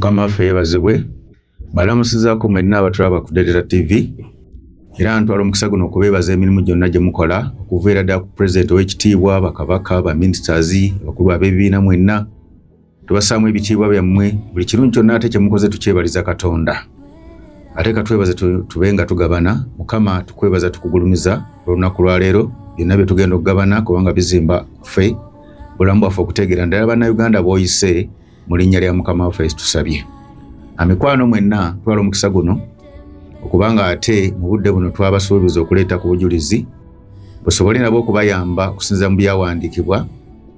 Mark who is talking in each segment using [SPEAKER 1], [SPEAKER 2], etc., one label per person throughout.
[SPEAKER 1] mukama ffe yebazibwe balamusizako mwena abatulaba ku Dedera TV era ntwala omukisa guno okubeebaza emirimu gyonna gye mukola okuviira ddala ku pulezidenti ow'ekitiibwa bakabaka baministers abakulu ab'ebibiina mwenna Tubasaamu ebitiibwa byammwe buli kirungi kyonna ate kyemukoze tukyebaliza Katonda. Ate katwebaze tube nga tugabana Mukama tukwebaza tukugulumiza olunaku lwaleero byonna bye tugenda okugabana kubanga bizimba ffe bulamu bwaffe okutegeera ndala bannayuganda booyise mu linnya lya Mukama waffe tusabye. Amikwano mwenna twala omukisa guno okubanga ate mu budde buno twabasuubiza okuleeta ku bujulizi busobole nabo okubayamba okusinza mu byawandiikibwa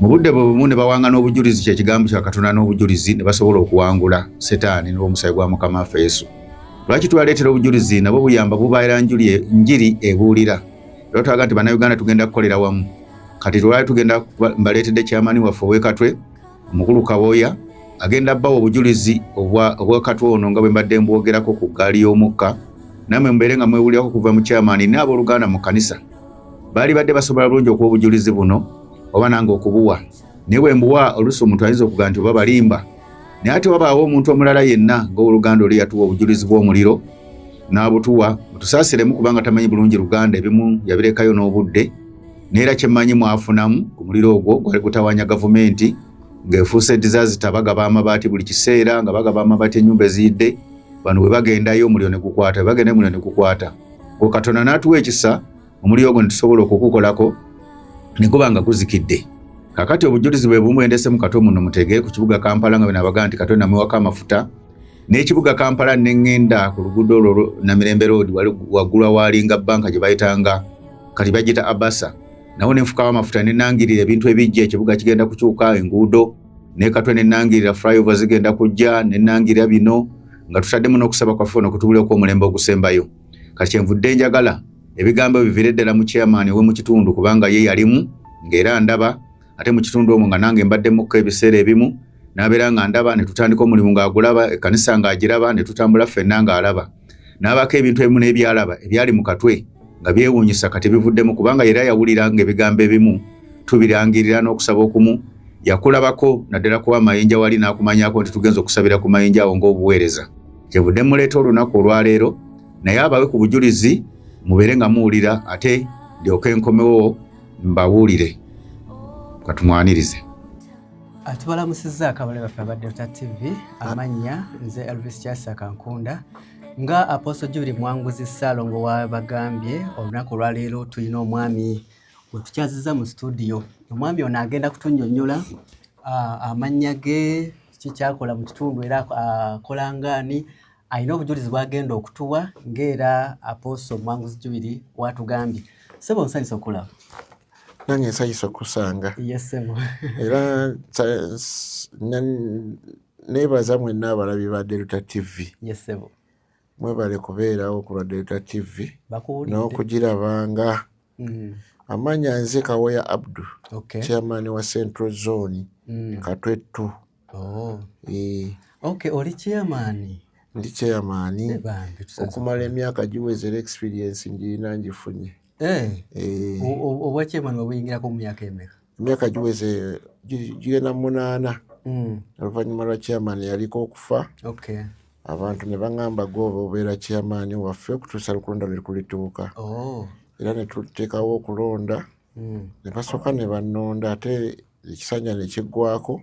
[SPEAKER 1] mu budde bwe bumu ne bawangana obujulizi kye kigambo kya Katonda n'obujulizi ne basobola okuwangula Setaani n'omusaayi gwa Mukama waffe Yesu. Lwaki twaleetera obujulizi nabwo buyamba bubaira njuli njiri ebuulira. Era twaga nti Bannayuganda tugenda kukolera wamu. Kati lwali tugenda mbaleetedde kyamani waffe ow'ekatwe omukulu Kaboya agenda bawa obujulizi obw'ekatwe ono nga bwe mbadde mbwogerako ku ggaali y'omukka namwe mbeere nga mwewulirako kuva mu kyamani n'abooluganda mu kkanisa. Baali badde basobola bulungi okuwa obujulizi buno oba nange okubuwa naye bwe mbuwa oluusi omuntu ayinza okugamba nti oba balimba naye ate wabaawo omuntu omulala yenna ng'owoluganda oli yatuwa obujulizi bw'omuliro n'abutuwa mutusaasiremu kubanga tamanyi bulungi luganda ebimu yabirekayo n'obudde neera kyemmanyi mwafunamu ku muliro ogwo gwali gutawanya gavumenti ng'efuuse disaasita bagaba amabaati buli kiseera nga bagaba amabaati ennyumba eziyidde bano bwe bagendayo omuliro ne gukwata bwe bagendayo omuliro ne gukwata gwe katonda n'atuwa ekisa omuliro ogwo netusobola okukukolako nekuba nga guzikidde kakati obujulizi bwe bumu endese mu katwe muno mutege ku kibuga kampala nga benabaga nti katwe namuwako amafuta n'ekibuga kampala nengenda ku luguudo olwo namirembe road waggulwa waalinga banka gye bayitanga kati bagita abasa nawo nenfukawo amafuta nenangirira ebintu ebijja ekibuga kigenda kukyuka enguudo nekatwe nenangirira flyover zigenda kujja nenangirira bino nga tutaddemu n'okusaba kwaffe ono kutubulira okwomulembe ogusembayo kati kyenvudde njagala ebigambo bivire ddala mu chairman we mu kitundu kubanga ye yalimu ng'era ndaba ate mu kitundu omwo nga nange mbaddemukko ebiseera ebimu n'abeera nga ndaba ne tutandika omulimu ng'agulaba ekkanisa ng'agiraba ne tutambula ffenna ng'alaba n'abaako ebintu ebimu n'ebyalaba ebyali mu katwe nga byewuunyisa kati bivuddemu kubanga era yawulira ng'ebigambo ebimu tubirangirira n'okusaba okumu yakulabako naddala kuba amayinja wali n'akumanyako nti tugenza okusabira ku mayinja awo ng'obuweereza kyevudde muleeta olunaku olwaleero naye abawe ku bujulizi mubeere nga muwulira ate ndyoke nkomewo mbabuulire katumwanirize
[SPEAKER 2] tubalamusizza akabale baffe aba delta tv amannya nze elvis kyasa kankunda nga aposo juli mwanguzi ssaalongo wabagambye olunaku olwaleero tulina omwami wetukyaziza mu situdiyo omwami ono agenda kutunyonyola amannya ge kikyakola mu kitundu era akolangaani alina obujulizi bwagenda okutuwa ng'era apooso mwanguzi jubiri watugambye sebo nsanyusa okulaba nange
[SPEAKER 3] nsanyusa okusanga
[SPEAKER 2] era
[SPEAKER 3] nebaza mwenna abalabi ba delta tv
[SPEAKER 2] mwebale
[SPEAKER 3] kubeerawo ku lwa delta tv n'okugiraba
[SPEAKER 2] nga
[SPEAKER 3] mm. amanya nze kawoya abdu chairman wa central zone mm. katwettu Oh, eh.
[SPEAKER 2] Okay, oli chairman. Ndi chairman.
[SPEAKER 3] Eh, Okumala emyaka giwezera experience ngirina ngifunye. Eh. Eh.
[SPEAKER 2] Obwa chairman wabuyingirako mu myaka emeka? Emyaka giweze
[SPEAKER 3] gigenda munaana. Mm. Oluvannyuma lwa chairman yaliko okufa. Okay. Abantu ne bangamba gooba obeera chairman waffe okutuusa lukulonda lwe kulituuka. Oh. Era ne tuteekawo okulonda. Mm. Ne basooka ne bannonda ate ekisanja ne kiggwako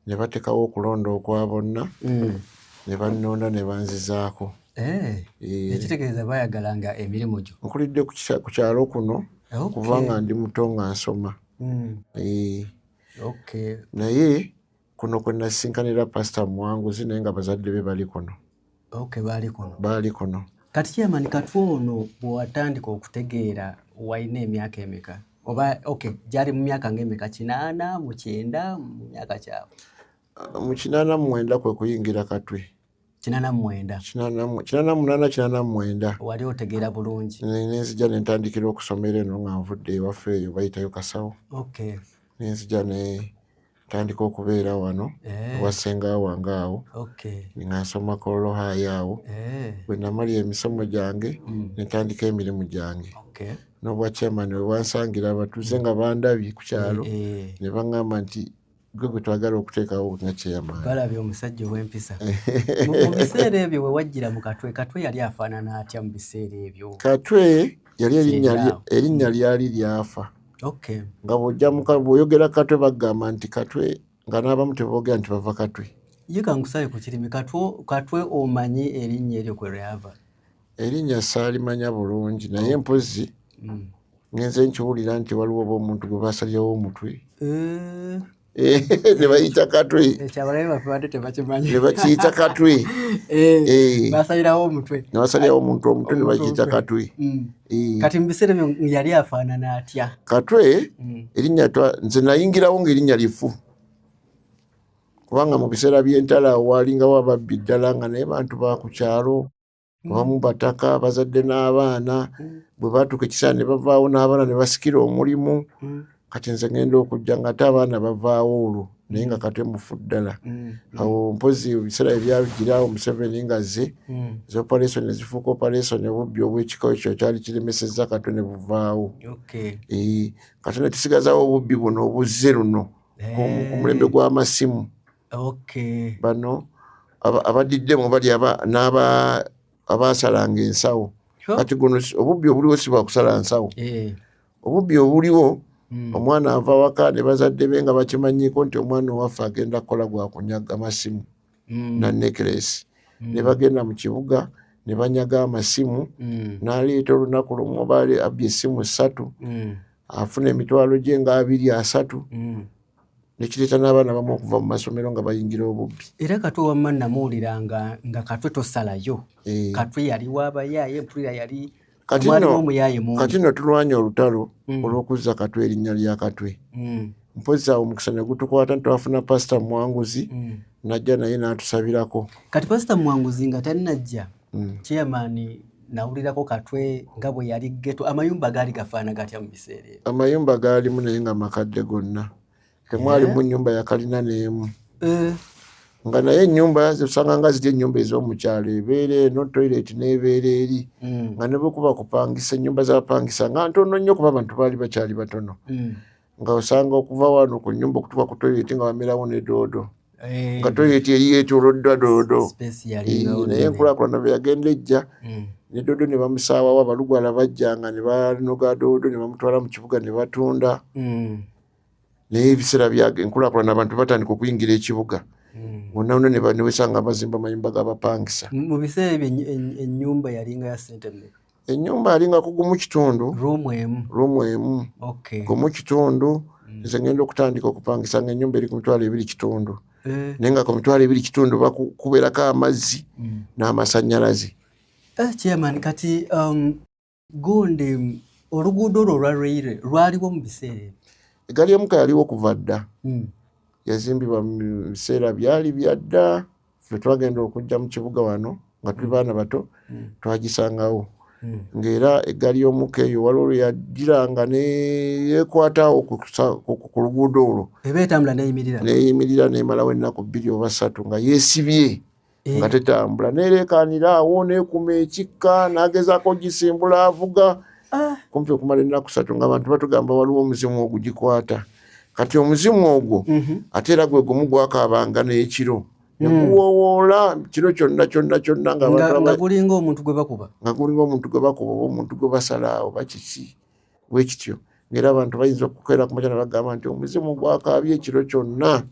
[SPEAKER 3] ne batekawo okulonda okwa bonna mm. ne bannonda ne banzizaako eh, eh.
[SPEAKER 2] ekitegeeza bayagala nga emirimu gyo nkulidde ku kyalo
[SPEAKER 3] kuno kuva nga ndi muto nga nsoma mm. eh. naye kuno kwe nasinkanira pasita muwanguzi naye nga bazadde be bali kuno baali kuno kati kyemani katwa
[SPEAKER 2] ono bwewatandika okutegeera walina emyaka emeka oba ok gyali mu myaka ngaemeka kinaana mukyenda mu myaka
[SPEAKER 3] kyabwe
[SPEAKER 2] mu kinaana
[SPEAKER 3] mumwenda
[SPEAKER 2] kwe
[SPEAKER 3] kuyingira
[SPEAKER 2] katwe
[SPEAKER 3] kinana mwenda kinana munana kinana mwenda wali otegeera
[SPEAKER 2] bulungi nenzija nentandikira
[SPEAKER 3] okusomera eno nga nvudde ewaffe eyo bayitayo kasawo okay. nenzija ne tandika okubeera wano eh. ewasenga wange awo nga nsoma kololohayo awo eh. bwe namali emisomo gyange hmm. nentandika emirimu gyange nobwakyamani wewansangira abatuuze nga bandabye ku kyalo eh, ne baŋŋamba nti gwe gwe twagala okuteekawo nga chairman. Balabye omusajja
[SPEAKER 2] ow'empisa. Mu biseera ebyo we wajjira mu Katwe, Katwe yali afaanana atya mu biseera ebyo? Katwe yali
[SPEAKER 3] erinnya lyali lyafa. Okay. Nga bw'ojja mu bw'oyogera Katwe bagamba nti Katwe nga n'abamu teboogera nti bava Katwe. Ye kankusale ku
[SPEAKER 2] kirimi Katwe, Katwe omanyi erinnya eryo kwe lyava? erinnya
[SPEAKER 3] saalimanya bulungi naye oh. mpozi mm. ngenze nkiwulira nti waliwo oba omuntu gwe basalyawo omutwe eh. Eh, nebayita katwe
[SPEAKER 2] nebakiyita katwe nebasalirawo omutwe omutwe
[SPEAKER 3] nebakiyita katwe mm. eh. kati
[SPEAKER 2] mubiseera byo yali afaanana atya katwe mm.
[SPEAKER 3] erinnya nze nayingirawo ngaerinnya lifu kubanga mu biseera byentala walingawo ababbi ddala nga naye bantu bakukyalo mm. abamu bataka bazadde n'abaana mm. bwe batuuka ekiseera ne bavaawo n'abaana ne basikira omulimu mm. kati nze ngenda okujja nga ate abaana bavaawo olwo naye nga kate mufu ddala awo mpozi ebiseera ebyagirawo museveni nga ze zi operation ezifuuka operation obubbi obwekika ekyo kyali kiremesezza kato ne buvaawo kati ne tusigazawo obubbi buno obuzze luno ku mulembe gw'amasimu bano abadiddemu bali n'aba abaasalanga ensawo kati guno obubbi obuliwo si bwakusala nsawo eh. obubbi obuliwo hmm. omwana ava waka ne bazadde be nga bakimanyiko nti omwana owaffe agenda kukola gwakunyaga masimu hmm. na necklace hmm. ne bagenda mu kibuga ne banyaga amasimu n'aleeta olunaku lumu obaali abbye essimu ssatu afuna emitwalo gye nga abiri asatu nekireeta n'abaana bamu okuva mu masomero nga bayingira obubbi era katwe wamma
[SPEAKER 2] namuwulira nga nga katwe tosalayo eh. katwe yali wabayaaye mpulira yali kati nno tulwanye olutalo
[SPEAKER 3] mm. olw'okuzza katwe erinnya lya katwe mm. mpozi awo omukisa ne gutukwata ntitwafuna pasita muwanguzi mm. najja naye n'atusabirako kati pasita
[SPEAKER 2] muwanguzi nga tannajja mm. chairman nawulirako katwe nga bwe yali geto amayumba gaali gafaana gatya mu biseera ebyo amayumba gaalimu naye
[SPEAKER 3] nga makadde gonna temwalimu eh? nyumba yakalina neemu eh? nga naye enyumba osanga nga ziri enyumba ez'omukyalo ebeera eno toilet n'ebeera eri mm. nga nebwekuba kupangisa enyumba zapangisa nga ntono nnyo kuba abantu baali bakyali batono mm. nga osanga okuva wano ku nyumba okutuka ku toyileti nga bamerawo ne doodo eh. nga toyileti eri yetoloddwa doodo naye enkulakulana bwe yagenda ejja hmm. ne doodo ne bamusaawawo abalugwala bajjanga ne banoga doodo ne bamutwala mu kibuga ne batunda hmm. naye ebiseera byage enkulakulana abantu batandika okuyingira ekibuga hmm. wonna wonna ne baniwesanga bazimba mayumba gabapangisa mu biseera ebyo
[SPEAKER 2] enyumba yalinga ya sente enyumba yalinga
[SPEAKER 3] kugumu kitundu rumu emu rumu
[SPEAKER 2] emu okay. gumu
[SPEAKER 3] kitundu mm. nze ngenda okutandika okupangisa nga enyumba eri ku mitwalo ebiri kitundu eh. naye nga ku mitwalo ebiri kitundu bakuberako amazzi mm. n'amasanyalaze eh,
[SPEAKER 2] chairman kati um, gonde oluguudo olwo olwa reyire lwaliwo mu biseera egali emuka yaliwo
[SPEAKER 3] kuva dda mm. yazimbibwa mu biseera byali byadda ffe twagenda okujja mu kibuga wano nga tuli baana bato mm. twagisangawo mm. ng'era eggaali y'omuka eyo waliwo lwe yagiranga neyekwatawo ku luguudo olwo
[SPEAKER 2] neyimirira nemalawo
[SPEAKER 3] ennaku bbiri oba ssatu nga yeesibye eh. nga tetambula nereekanira awo neekuma ekikka nagezaako gisimbula avuga ah. kumpi okumala ennaku ssatu nga abantu batugamba waliwo omuzimu ogugikwata mm. kati omuzimu ogwo mhm. ate era gwe gumu gwakaabanga n'ekiro nekuwowoola hmm. kiro kyonna kyonna kyonna nga
[SPEAKER 2] gulinga omuntu gwe bakuba nga gulinga omuntu gwe
[SPEAKER 3] bakuba oba omuntu gwe basala oba kiki wekityo ngaera abantu bayinza okukeera ku makyana bagamba nti omuzimu gwakaabye ekiro kyonna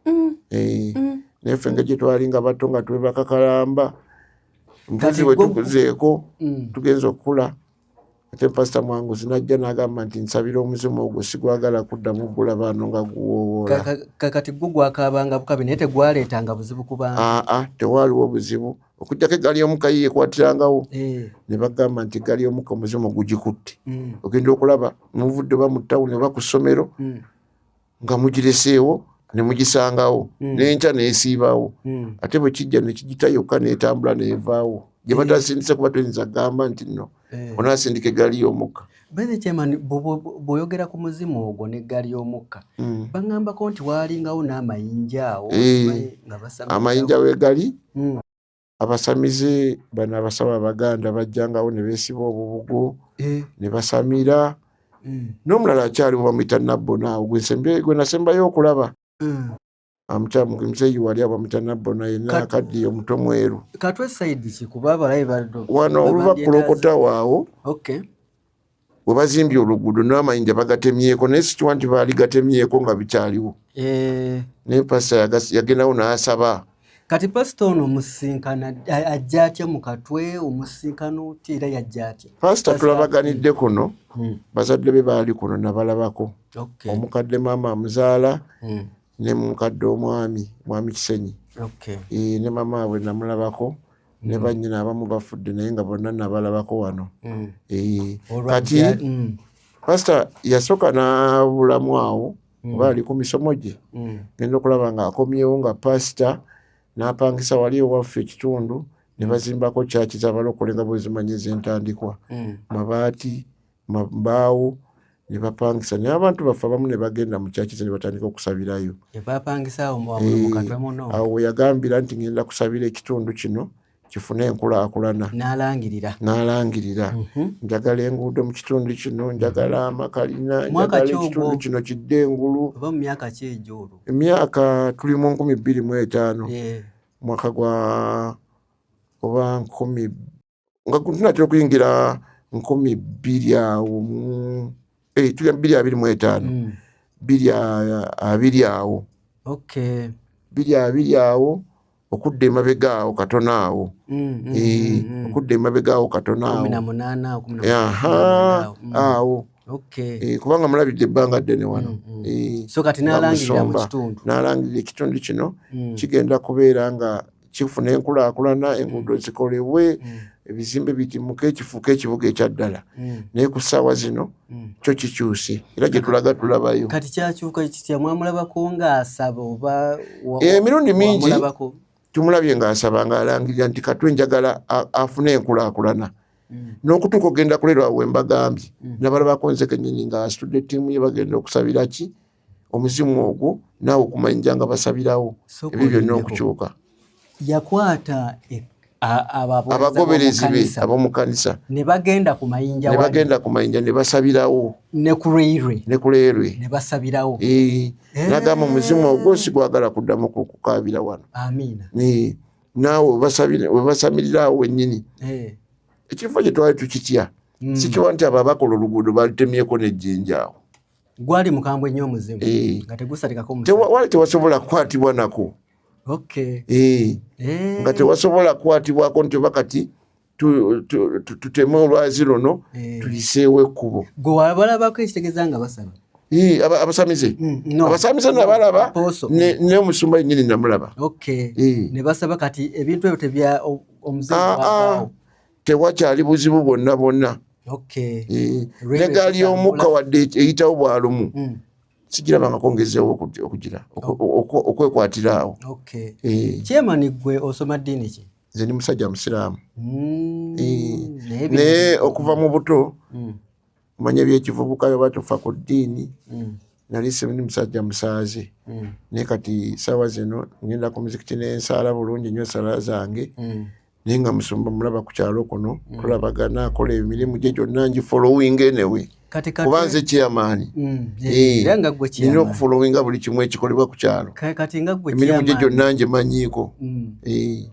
[SPEAKER 3] hmm. Eh, hmm. naye ffe nga gyetwali nga bato nga twebakakalamba mbuzi wetukuzeeko tugenza okukula ate pasita mwangu zinajja nagamba nti nsabira omuzimu ogwo sigwagala kuddamu gula baano nga guwowoola kakati gwo
[SPEAKER 2] gwakaabanga bukabi naye tegwaleetanga buzibu kubanga aa tewaaliwo buzibu
[SPEAKER 3] okujjako eggaali y'omukayi yekwatirangawo eh. ne bagamba nti eggaali y'omuka omuzimu gugikutte mm. ogenda okulaba muvudde oba mu tawuni oba ku ssomero mm. nga mugireseewo ne mugisangawo hmm. n'enkya n'esiibawo hmm. ate bwe kijja ne kigita yokka n'etambula n'evaawo gye batasindise kuba toyinza kugamba nti nno eh. onaasindika eggaali y'omukka bene kyemani
[SPEAKER 2] bwoyogera ku muzimu ogwo n'eggaali y'omukka hmm. baŋambako nti waalingawo n'amayinja awo eh. amayinja w'egali
[SPEAKER 3] Abasamize bano abasawo abaganda bajjangawo ne beesiba obubugo eh. ne basamira hmm. n'omulala akyaliwo bamuyita nabbona awo gwe nasembayo okulaba hmm. amukyamu ah, muzeeyi wali aba muyita nabbona yenna akaddiye omuto mweru
[SPEAKER 2] wano oluva
[SPEAKER 3] kulokotawo awo webazimbye oluguudo namayinja bagatemyeko naye sikiwa nti baali gatemyeko nga bikyaliwo eh. naye pasita yagendawo nasaba kati pasita
[SPEAKER 2] ono omusinkana ajja atya mu katwe omusinkana oti era yajja atya pasita tulabaganidde
[SPEAKER 3] kuno hmm. bazadde be baali kuno nabalabako omukadde maama amuzaala hmm. ne mukadde omwami mwami kisenyi eh, ne mama we namulabako ne mm. bannyina abamu bafudde naye nga bonna nabalabako wano mm. eh, kati mm. pasita yasooka n'abulamu awo oba ali ku misomo gye genda okulaba nga akomyewo nga pasita n'apangisa wali ewaffe ekitundu ne bazimbako kyaki zabalokole nga bwezimanyi ezentandikwa mabaati mbaawo ne bapangisa naye abantu baffe abamu ne bagenda mu kyaki ze ne batandika okusabirayo eh, awo weyagambira nti ngenda kusabira ekitundu kino kifune enkulaakulana n'alangirira n'alangirira mhm. njagala enguudo mu kitundu kino njagala mhm. amakalina njagala ekitundu kino kidde engulu oba mu myaka ki egyo olwo emyaka tuli mu nkumi bbiri mu etaano mwaka gwa oba nkumi nga tunatera okuyingira nkumi bbiri awo eh, tuli bbiri abiri mu etaano hmm. bbiri abiri awo bbiri abiri awo okudda emabega awo katono awo hmm, hmm, eh, okudda emabega awo katono awo eh, kubanga mulabidde ebbanga ddene wano
[SPEAKER 2] n'alangirira ekitundu
[SPEAKER 3] kino kigenda kubeera nga kifuna enkulaakulana enguudo mm. zikolebwe mm. ebizimbe bigimuke kifuuka ekibuga ekyaddala mm. naye ku ssaawa zino kyo kikyuse era gye tulaga tulabayo kati kyakyuka
[SPEAKER 2] kitya mwamulabako ng'asaba oba eh, emirundi
[SPEAKER 3] mingi tumulabye ng'asaba ng'alangirira nti katwe njagala afune enkulaakulana n'okutuuka okugenda kulerwa wembagambye nabalabako nzekenyini ng'asitudde ttiimu ye bagenda okusabira ki omuzimu ogwo naawe okumanyija nga basabirawo ebyo byonna okukyuka yakwata
[SPEAKER 2] e-
[SPEAKER 3] abagoberezi be abomukanisa nebagenda
[SPEAKER 2] ku mayinja nebasabirawo nekuleyerwe nebasabirawo
[SPEAKER 3] eh. nagamba omuzimu ogwo sigwagala kuddamu kukabira wano naawe webasamirirawo wenyini eh. ekifo kyetwali tukitya hmm. sikiwa nti abo abakola oluguudo balutemyeko nejjinjaawo gwali mukambwe
[SPEAKER 2] nnyo omuzimu eh. nga tegusalikako wali tewasobola
[SPEAKER 3] kukwatibwa nako eh. Eh. nga tewasobola kukwatibwako nti oba kati tuteme olwazi luno tuyiseewo ekkubo gwe wabalabako
[SPEAKER 2] ekitegeeza nga basaba abasamize
[SPEAKER 3] mm, abasamize nabalaba neomusumba yenyini namulaba
[SPEAKER 2] nebasaba kati ebintu ebyo tebya omuzimu ah, ah. tewakyali
[SPEAKER 3] buzibu bwonna bwonna okay. e, ne gaali y'omukka wadde eyitawo bwalumu mm. sigirabangako ngezeewo okugira okwekwatira awo okay. e. kyemani
[SPEAKER 2] gwe osoma ddiini ki nze ndi musajja musiraamu
[SPEAKER 3] mm. e. naye okuva mu buto mm. omanya ebyekivubuka oba tufa ku ddiini mm. nali sindi musajja musaazi mm. naye kati saawa zino ngenda ku muzikiti nensaala bulungi nyo esala zange mm. naye nga musumba mulaba ku kyalo kuno tulabagana akola emirimu gye gyonna ngi following enewe kuba nze kyamaani nina okufollowinga buli kimu ekikolebwa ku kyalo emirimu gye gyonna ngimanyiiko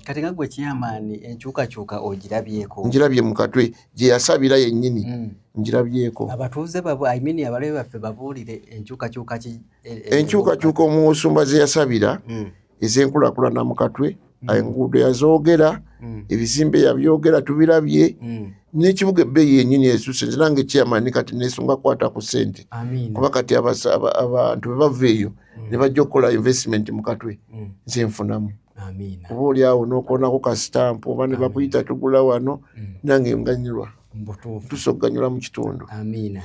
[SPEAKER 3] kati
[SPEAKER 2] nga gwe kyamaani enkyukakyuka ogirabyeko ngirabye mu katwe
[SPEAKER 3] gye yasabira yennyini mm. ngirabyeko abatuuze
[SPEAKER 2] imean abalabe baffe babuulire enkyukakyuka e, e, enkyukakyuka
[SPEAKER 3] omusumba ze yasabira mm. ez'enkulakulana mu katwe mm. enguudo yazoogera mm. ebizimbe yabyogera tubirabye mm. n'ekibuga ebbeeyi yennyini esuuse nze nange kyeyamani kati nesunga kwata ku ssente kuba kati abantu bwe bava eyo mm. ne bajja okukola investment mu katwe mm. nze nfunamu oba oli awo nokonako kasitampu oba ne bakuyita tugula wano mm. nange nganyirwa tusoganyula mu kitundu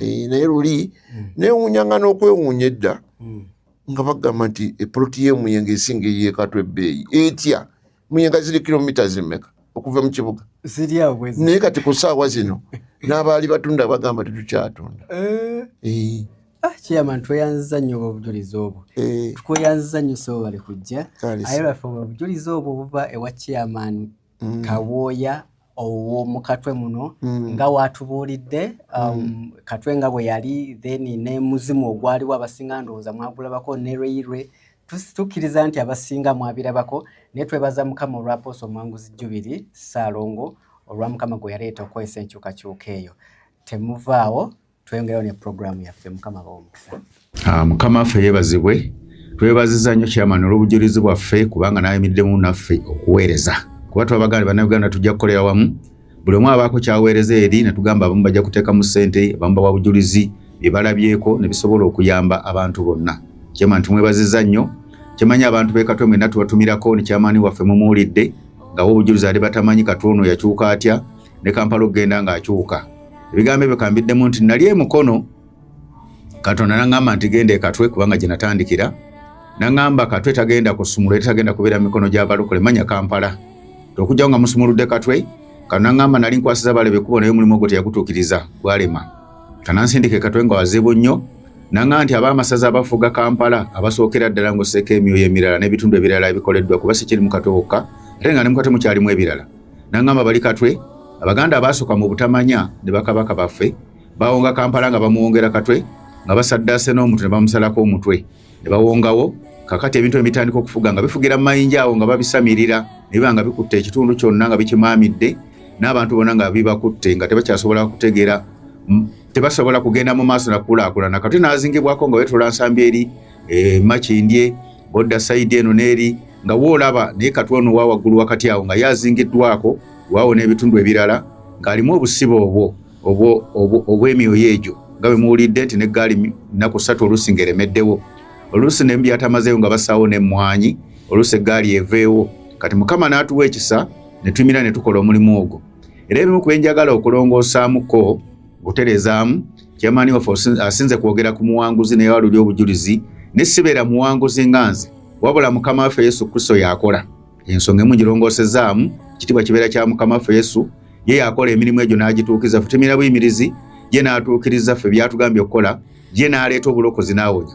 [SPEAKER 3] eh, naye luli mm. newunya nga nokwewunya edda mm. nga bagamba nti epoloti yemuyenga esinga eyekatwa ebbeeyi etya muyenga ziri kilomita zimeka okuva mu kibuga naye kati ku saawa zino n'abaali batunda bagamba tetukyatunda eh. Eh. Ah,
[SPEAKER 2] chairman tweyanziza nnyo obujulizi obwo eh. tukweyanziza nnyo sebo bali kujja aye lwaffe obujulizi obwo buva ewa chairman mm. kawooya owomukatwe muno mm. nga watubuulidde um, mm. katwe nga bwe yali then ne muzimu ogwaliwo abasinga ndowooza mwagulabako ne lweirwe tukkiriza nti abasinga mwabirabako naye twebaza mukama olwa poosa omwanguzi jubiri saalongo olwa mukama gwe yaleeta okukozesa enkyukakyuka eyo temuvaawo tweyongerayo ne pulogulaamu yaffe mukama bawa omukisa ah, mukama affe
[SPEAKER 1] yebazibwe twebaziza nnyo kyamani olw'obujulizi bwaffe kubanga nayimiddemu naffe okuweereza kuba twabagala bannayuganda tujja kukolera wamu buli omu abaako kyaweereza eri netugamba abamu bajja kuteekamu ssente abamu bawa bujulizi byebalabyeko nebisobola okuyamba abantu bonna kyamani tumwebaziza nnyo kyemanyi abantu bekatwe mwena tubatumirako nekyamaani waffe mumuwulidde ngawo obujulizi ali batamanyi katwono yakyuka atya ne kampala okugenda ng'akyuka ebigambo ebyo kambiddemu nti nali emukono katonda naŋamba nti genda ekatwe kubanga gye natandikira naŋamba katwe tagenda kusumula era tagenda kubeera mikono gy'abalokole manya kampala okujjawo nga musumuludde katwe kano naŋamba nali nkwasiza balebe kubo naye omulimu ogwo teyagutuukiriza gwalema kanansindika ekatwe nga wazibu nnyo naŋaa nti abaamasaza abafuga kampala abasookera ddala ng'osseeko emyoyo emirala n'ebitundu ebirala ebikoleddwa kuba sikiri mu katwe wokka ate nga ne mu katwe mukyalimu ebirala nangamba bali katwe abaganda abaasoka mu butamanya ne bakabaka baffe bawonga kampala nga bamuwongera katwe nga basaddaase n'omuntu ne bamusalako omutwe ne bawongawo kakati ebintu ebitandika okufuga nga bifugira mu mayinja awo nga babisamirira ne biba nga bikutte ekitundu kyonna nga bikimaamidde n'abantu bona nga bibakutte nga tebakyasobola kutegera tebasobola kugenda mu maaso nakukulaakulana katwe n'azingibwako nga wetula nsambi eri eh, makindye bodda sayidi eno n'eri nga woolaba naye katwa ono wa waggulu wakati awo nga yazingiddwako waawo n'ebitundu ebirala ng'alimu obusibe obwo obw'emyoyo egyo nga bwe muwulidde nti n'eggaali nnaku ssatu oluusi ng'eremeddewo oluusi ne byatamazeewo nga basaawo n'emmwanyi oluusi eggaali eveewo kati mukama n'atuwa ekisa ne tumira ne tukola omulimu ogwo era ebimu ku byenjagala okulongoosamuko Guterezaamu kyamaani waffe asinze kwogera ku muwanguzi naye waluli obujulizi ne sibeera muwanguzi nga nze wabula mukama waffe yesu kristo yakola ensonga emu ngirongosezaamu kitibwa kibeera kya mukama waffe yesu ye yakola emirimu egyo n'agituukiriza ffe temira buyimirizi ye n'atuukiriza ffe byatugambye okukola ye n'aleeta obulokozi n'awonya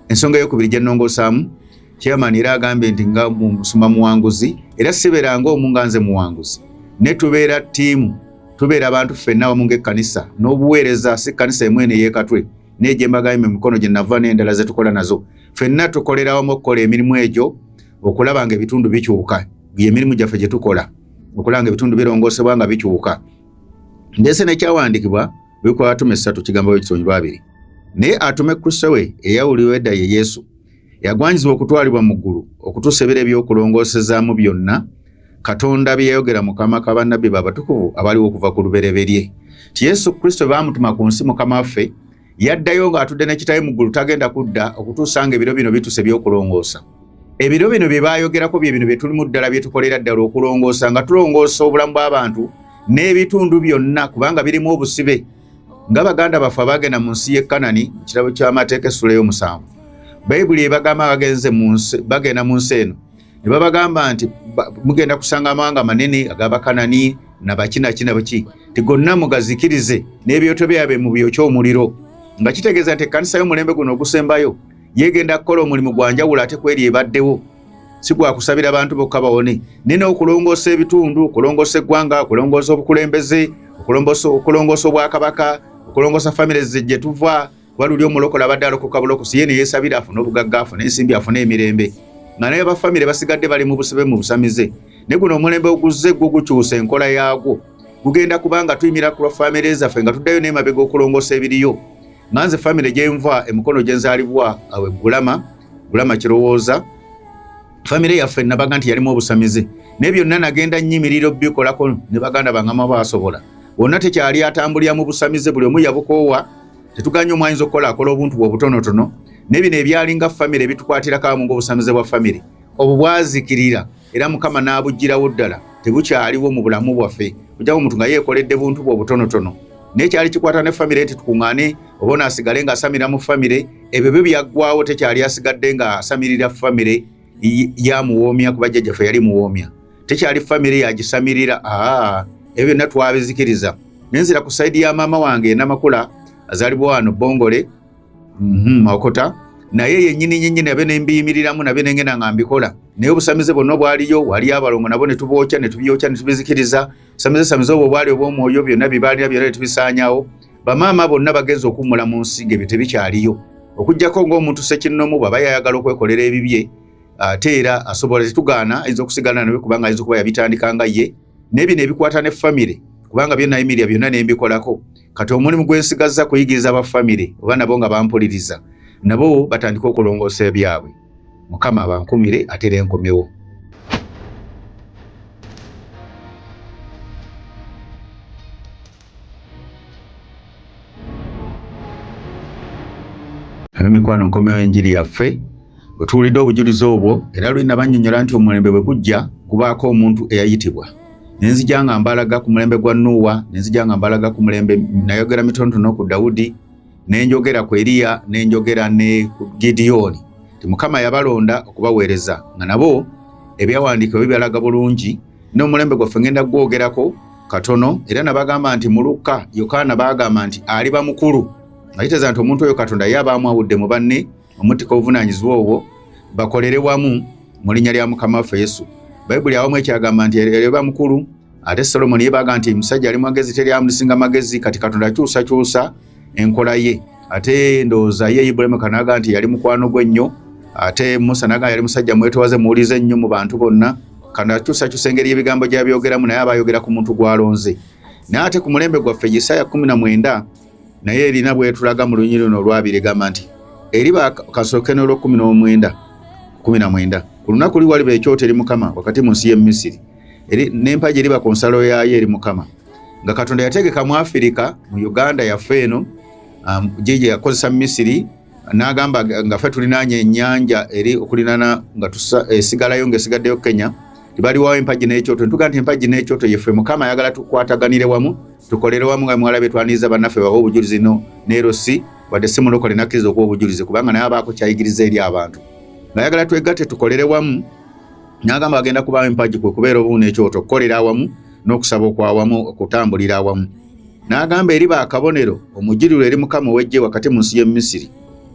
[SPEAKER 1] ensonga eyokubiri gye nnongosaamu Chairman era agambye nti nga musuma muwanguzi era sibeera ng'omu nga nze muwanguzi ne tubeera ttiimu tubeera abantu ffenna wamu ng'ekkanisa n'obuweereza si kkanisa emu eno ey'ekatwe naye gye mbagambye mu mikono gye nava n'endala ze tukola nazo ffenna tukolera wamu okukola emirimu egyo okulaba nga ebitundu bikyuka emirimu gyaffe gye tukola okulaba nga ebitundu birongoosebwa nga bikyuka ndese nekyawandiikibwa bikwatuma essatu kigambo bwe kitonyi lwabiri naye atume kristo we eyawuliwo edda ye yesu Yagwanyizibwa okutwalibwa mu ggulu okutuusa ebiro eby'okulongoosezaamu byonna Katonda bye yayogera mu kama ka bannabbi babatukuvu abaliwo okuva ku lubereberye ti Yesu Kristo baamutuma ku nsi mukama waffe yaddayo ng'atudde ne kitaye mu ggulu tagenda kudda okutuusa nga ebiro bino bituuse eby'okulongoosa. Ebiro bino bye baayogerako bye bino bye tulimu ddala bye tukolera ddala okulongoosa nga tulongoosa obulamu bw'abantu n'ebitundu byonna kubanga birimu obusibe. nga baganda baffe abaagenda mu nsi y'e kanani mu kirabo ky'amateeka essula ey'omusanvu bayibuli ebagamba bagenze bagenda mu nsi eno ne babagamba nti mugenda kusanga amawanga manene agabakanani nabakinaki nabaki ti gonna mugazikirize n'ebyoto byabwe mu byokya omuliro nga kitegeeza nti ekkanisa y'omulembe guno ogusembayo yeegenda kukola omulimu gwa njawulo ate kweri ebaddewo si gwa kusabira bantu bokka bawone naye n'okulongoosa ebitundu okulongoosa eggwanga okulongoosa obukulembeze okulongoosa obwakabaka okulongoosa famire gye tuva waluli omulokola abadde alokoka bulokosi ye neyesabira afune obugagga afune ensimbi afune emirembe nga naye bafamire basigadde bali mu busibe mu busamize ne guno omulembe oguzze gwo gukyusa enkola yaagwo gugenda kubanga tuyimira ku lwa famire zaffe nga tuddayo n'emabega okulongoosa ebiriyo nga nze famire gyenva emikono gye nzaalibwa awe ggulama bulama kirowooza famire yaffe nabaga nti yalimu obusamize naye byonna nagenda nyimirira obikolako ne baganda bangama basobola wonna tekyali atambulira mu busamize buli omu yabukoowa tetuganye omwayinza okukola akola obuntu bwe obutonotono naye bino ebyalinga famire bitukwatirako amu ngaobusamize bwa famire obubwazikirira era mukama n'abuggyirawo ddala tebukyaliwo mu bulamu bwaffe ojjawo omuntu nga yeekoledde buntu bwe obutonotono naye kyali kikwata ne famire nti tukuŋŋaane oba ono asigale ng'asamira mu famire ebyo byo byaggwawo tekyali asigadde ng'asamirira famire yamuwoomya kuba jjajjaffe yali muwoomya tekyali famire yagisamirira aa ebyo byonna twabizikiriza nenzira ku sayidi ya maama wange enamakula azalibwa wano bongole mhm, mawokota naye yenyini nyinyi nabe nembiyimiriramu nabe nengenda nga mbikola naye obusamize bwonna obwaliyo waliyo abalongo nabo netubookya netubyokya netubizikiriza samize samize obwo obwali obwomwoyo byonna bibaalira byona netubisaanyawo bamaama bonna bagenza okuwumula mu nsi nga ebyo tebikyaliyo okugyako ngaomuntu sekinnomu bwaba yayagala okwekolera ebibye ate era asobola tetugaana ayinza okusigala nawe kubanga ayinza okuba yabitandika nga ye naye bino ebikwata ne famire kubanga byonna emiria byonna nembikolako kati omulimu gwensigazza kuyigiriza ba famire oba nabo nga bampuliriza nabo batandika okulongoosa ebyabwe mukama abankumire ate renkomewo Mikwano nkomewo enjiri yaffe otuwulidde obujulizi obwo era luli nabannyonnyola nti omulembe bwe gujja kubaako omuntu eyayitibwa ne nzija nga mbalaga ku mulembe gwa nuuwa ne nzija nga mbalaga ku mulembe nayogera mitonotono ku dawudi ne njogera ku eriya ne njogera ne ku gidiyooni ti mukama yabalonda okubaweereza nga nabo ebyawandiikibwa bibyalaga bulungi n'omulembe gwaffe ngenda gwogerako katono era nabagamba nti mulukka yokaana baagamba nti ali bamukulu nga kiteeza nti omuntu oyo katonda ye aba amwawudde mu banne omuttika obuvunaanyizibwa obwo bakolere wamu mu linnya lya mukama waffe yesu bayibuli awamu ekyagamba nti ere bamukulu ate solomoni ye baaga nti musajja ali magezi teri amulisinga magezi kati katonda akyusakyusa enkola ye ate ndowooza ye Ibrahim kanaga nti yali mukwano gwe nnyo ate Musa naga yali musajja mwetowaze muwulize nnyo mu bantu bonna kanakyusakyusa engeri ebigambo gyabyogeramu naye aba ayogera ku muntu gwalonze naye ate ku mulembe gwaffe Yisaya kumi na mwenda naye erina bwetulaga mu lunyiri luno olwabiri egamba nti eri bakasooke n'olwekumi n'omwenda kumi na mwenda ku lunaku li waliba ekyota eri mukama wakati mu nsi y'e misiri n'empagi eriba ku nsalo yaayo eri mukama nga katonda yategeka mu afirika mu uganda yaffe eno um, jeje yakozesa misiri nagamba nga fe tulinanya enyanja eri okulinana nga esigalayo eh, nga esigaddeyo kenya tibaliwawo empagi nekyoto ntuga nti empagi nekyoto yeffe mukama ayagala tukwataganire wamu tukolere wamu nga mwalabe twaniriza bannaffe bawe obujulizi no nerosi wadde si mulokole nakkiriza okuwa obujulizi kubanga naye abaako kyayigiriza eri abantu ngayagala twegatte tukolere wamu nagamba agenda kubawo empagi kwe kubeera obuwu nekyoto okukolera awamu n'okusaba okwawamu okutambulira awamu n'agamba eri ba kabonero omujuliro eri mukama ow'eggye wakati mu nsi y'e misiri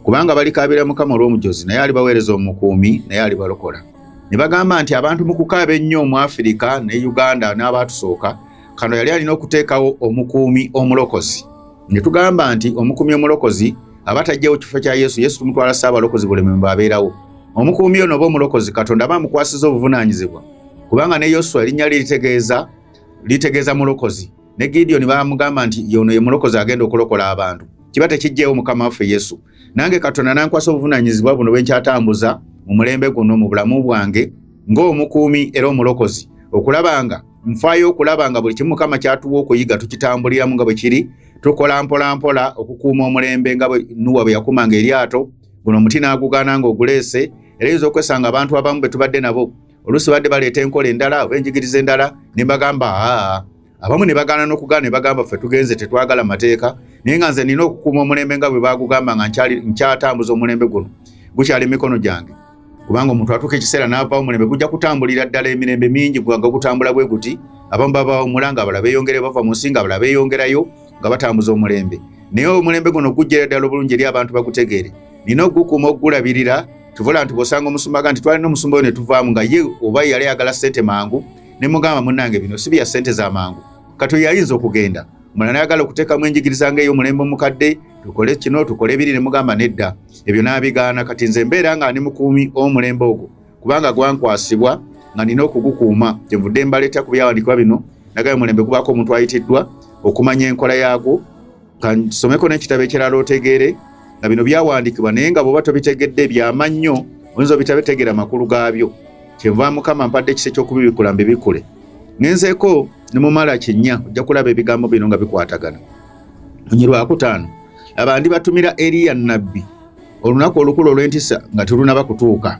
[SPEAKER 1] kubanga balikaabira mukama olw'omujozi naye alibaweereza omukuumi naye alibalokola ne bagamba nti abantu mu kukaaba ennyo mu afirika ne uganda n'abaatusooka kano yali alina okuteekawo omukuumi omulokozi ne tugamba nti omukuumi omulokozi aba tajjawo kifo kya yesu yesu tumutwala saabalokozi buleme mbe abeerawo omukuumi ono oba omulokozi katonda aba amukwasiza obuvunaanyizibwa kubanga ne yoswa erinnya lye litegeeza litegeeza mulokozi ne gideoni baamugamba nti yono ye mulokozi agenda okulokola abantu kiba tekijjeewo mukama waffe yesu nange katonda nankwasa obuvunanyizibwa buno bwe nkyatambuza mu mulembe guno mu bulamu bwange ng'omukuumi era omulokozi okulabanga nfaayo okulaba nga buli kimu mukama kyatuwa okuyiga tukitambuliramu nga bwe kiri tukola mpolampola okukuuma omulembe nga nuwa bwe yakumanga eryato guno omuti n'agugaana ng'oguleese era yinza okwesanga abantu abamu be tubadde nabo oluusi badde baleeta enkola endala oba enjigiriza endala ne mbagamba aa abamu ne bagaana n'okugaana ne bagamba ffe tugenze tetwagala mateeka naye nga nze nina okukuuma omulembe nga bwe baagugamba nga nkyatambuza omulembe guno gukyali mikono gyange kubanga omuntu atuuka ekiseera n'avaawo omulembe gujja kutambulira ddala emirembe mingi gwanga gutambula bwe guti abamu babawumula nga abala beeyongerayo bava mu nsi nga abala beeyongerayo nga batambuza omulembe naye omulembe guno gujjera ddala obulungi eri abantu bagutegeere nina ogukuuma okugulabirira tuvula nti bwosanga omusumba ga nti twalina omusumba oyo ne tuvaamu nga ye oba yali ayagala ssente mangu ne mugamba munnange bino si bya ssente za mangu kati oyo yayinza okugenda mulala ayagala okuteekamu enjigiriza nga ey'omulembe omukadde tukole kino tukole ebiri ne mugamba nedda ebyo n'abigaana kati nze mbeera nga ndi mukuumi omulembe ogwo kubanga gwankwasibwa nga nina okugukuuma kyenvudde mbaleeta ku byawandikibwa bino nagaye omulembe gubaako omuntu ayitiddwa okumanya enkola yaagwo kansomeko n'ekitabo ekirala otegeere nga bino byawandikibwa naye nga bwoba tobitegedde byama nnyo oyinza obitabetegeera makulu gaabyo kyenva mukama mpadde ekisa eky'okubibikula mbibikule ngenzeeko ne mumala kinnya ojja kulaba ebigambo bino nga bikwatagana munyi lwakutaano abandi batumira eriya nabbi olunaku olukulu olw'entisa nga terunaba kutuuka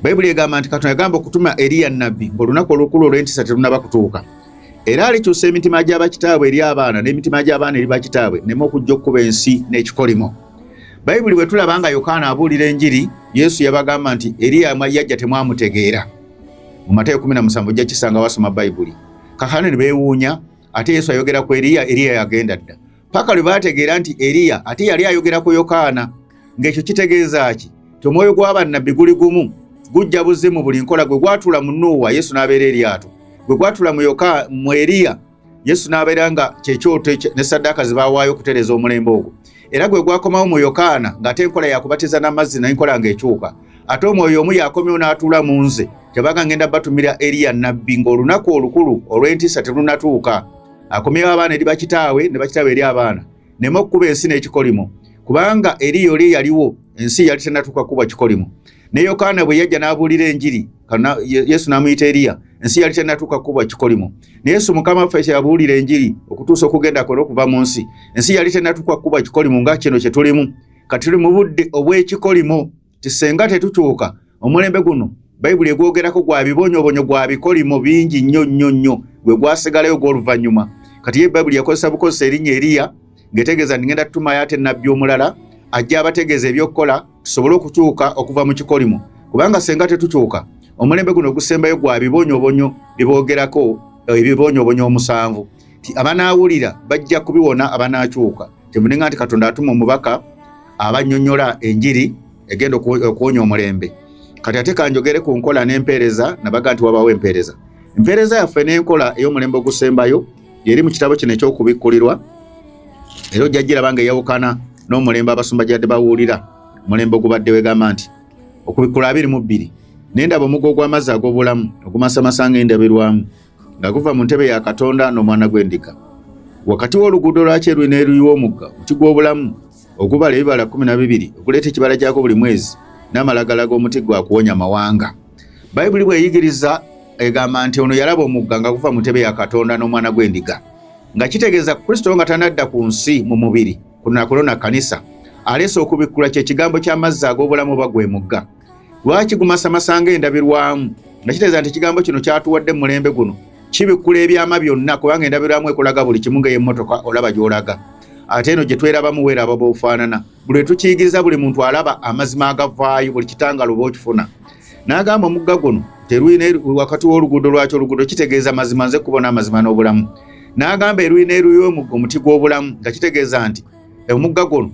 [SPEAKER 1] bayibuli egamba nti katonda yagamba okutuma eriya nabbi ngaolunaku olukulu olw'entisa terunaba kutuuka era alikyusa emitima gy'abakitaabwe eri abaana n'emitima gy'abaana eri bakitaabwe nema okujja okukuba ensi n'ekikolimo bayibuli bwe tulaba nga yokaana abuulira enjiri yesu yabagamba nti eriya yajja temwamutegeera mu matayo 17 ojja kisanga wasoma bayibuli kakano ne beewuunya ate yesu ayogera ku eriya eriya yagenda dda paka lwe bategeera nti eriya ate yali ayogera ku yokaana ng'ekyo kitegeeza ki ti omwoyo gw'abannabbi guli gumu gujja buze mu buli nkola gwe gwatula mu nuuwa yesu n'abeera eryato gwe gwatula mu yoka mu eriya yesu n'abeera nga kyekyoto ne saddaaka ze baawaayo okutereeza omulembe ogwo era gwe gwakomawo mu yokaana ng'ate enkola yakubatiza n'amazzi naye nkola ng'ekyuka ate omwoyo omu yakomyewo n'atuula mu nze kyebaga ngenda batumira eriya nabbi ng'olunaku olukulu olw'entiisa terunatuuka akomyewo abaana eri bakitaawe ne bakitaawe eri abaana nema okukuba ensi n'ekikolimo kubanga eriya oli eyaliwo ensi yali tenatuuka kukuba kikolimo ne yokaana bwe yajja n'abuulira enjiri kana Yesu namuyita Eliya ensi yali tenatuuka kukuba kikolimo naye Yesu mukama ffe kyabuulira enjiri okutuusa okugenda kwe n'okuva mu nsi ensi yali tenatuuka kukuba kikolimo nga kino kye tulimu kati tuli mu budde obw'ekikolimo tisenga tetukyuka omulembe guno bayibuli egwogerako gwa bibonyobonyo gwa bikolimo bingi nnyo nnyo nnyo gwe gwasigalayo gw'oluvannyuma kati ye bayibuli yakozesa bukozesa erinnya eriya ngetegeeza nti ngenda tutumayo ate nabbi omulala ajja abategeeza ebyokukola tusobole okukyuka okuva mu kikolimo kubanga senga tetukyuka omulembe guno ogusembayo gwa bibonyobonyo biboogerako eh, ebibonyobonyo omusanvu ti abanaawulira bajja kubiwona abanaakyuka kyemuninga nti katonda atuma omubaka abanyonyola enjiri egenda okuwonya omulembe kati ate kanjogere ku nkola n'empeereza nabaga nti wabaawo empeereza empeereza yaffe n'enkola ey'omulembe ogusembayo lyeri mu kitabo kino eky'okubikkulirwa era ojja giraba nga eyawukana n'omulembe abasumba gyadde bawuulira omulembe ogubadde wegamba nti okubikkula abiri mu bbiri naye ndaba omugo ogw'amazzi ag'obulamu ogumasamasa nga endabirwamu nga guva mu ntebe ya katonda n'omwana gw'endiga wakati w'oluguudo lwakyeruyi n'eruyiwa omugga omuti gw'obulamu ogubala ebibala kumi na bibiri okuleeta ekibala gyako buli mwezi n'amalagala g'omuti gwa kuwonya mawanga bayibuli bweyigiriza egamba nti ono yalaba omugga nga guva mu ntebe ya katonda n'omwana gw'endiga nga kitegeeza kristo nga tanadda ku nsi mu mubiri kunakulona kanisa aleese okubikkula kye kigambo ky'amazzi ag'obulamu oba gwe mugga lwaki gumasamasa nga endabirwamu nga kitegeeza nti ekigambo kino kyatuwadde mulembe guno kibikkula ebyama byonna kubanga endabirwamu ekulaga buli kimu nga ey'emmotoka olaba gy'olaga ate eno gye twerabamu weeraba b'ofaanana buli wetukiyigiriza buli muntu alaba amazima agavaayo buli kitangalo oba okifuna n'agamba omugga guno terwina wakati w'oluguudo lwaki oluguudo kitegeeza mazima nze kubona amazima n'obulamu n'agamba erwina eruyo omugga omuti gw'obulamu nga kitegeeza nti omugga guno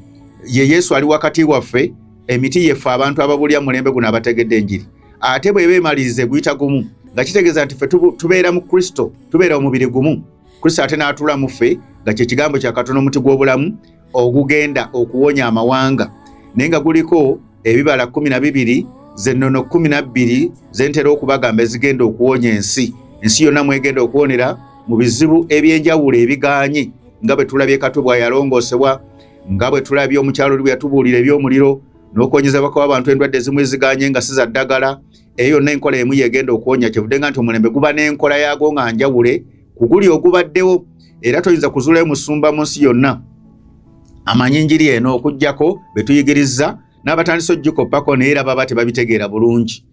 [SPEAKER 1] ye yesu ali wakati waffe emiti yeffe abantu ababulya mulembe guno abategedde enjiri ate bweba emaliriza eguyita gumu nga kitegeeza nti ffe tubeera mu kristo tubeera omubiri gumu kristo ate n'atula mu ffe nga kyekigambo kyakatono omuti gw'obulamu ogugenda okuwonya amawanga naye nga guliko ebibala kumi na bibiri zennono kumi na bbiri zentera okubagamba ezigenda okuwonya ensi ensi yonna mwegenda okuwonera mu bizibu ebyenjawulo ebiganye nga bwe tulabye katu bwayalongoosebwa nga bwe tulabye omukyalo oli bwe yatubuulira eby'omuliro n'okuwonyezebwa kw'abantu endwadde ezimu eziganye nga si za ddagala eyo yonna enkola emu yegenda okuwonya kyevude nga nti omulembe guba n'enkola yaago nga njawule kuguli ogubaddewo era toyinza kuzulayo musumba mu nsi yonna amanyi njiri eno okugyako betuyigirizza n'abatandisa ogikoppako naye era baba tebabitegeera bulungi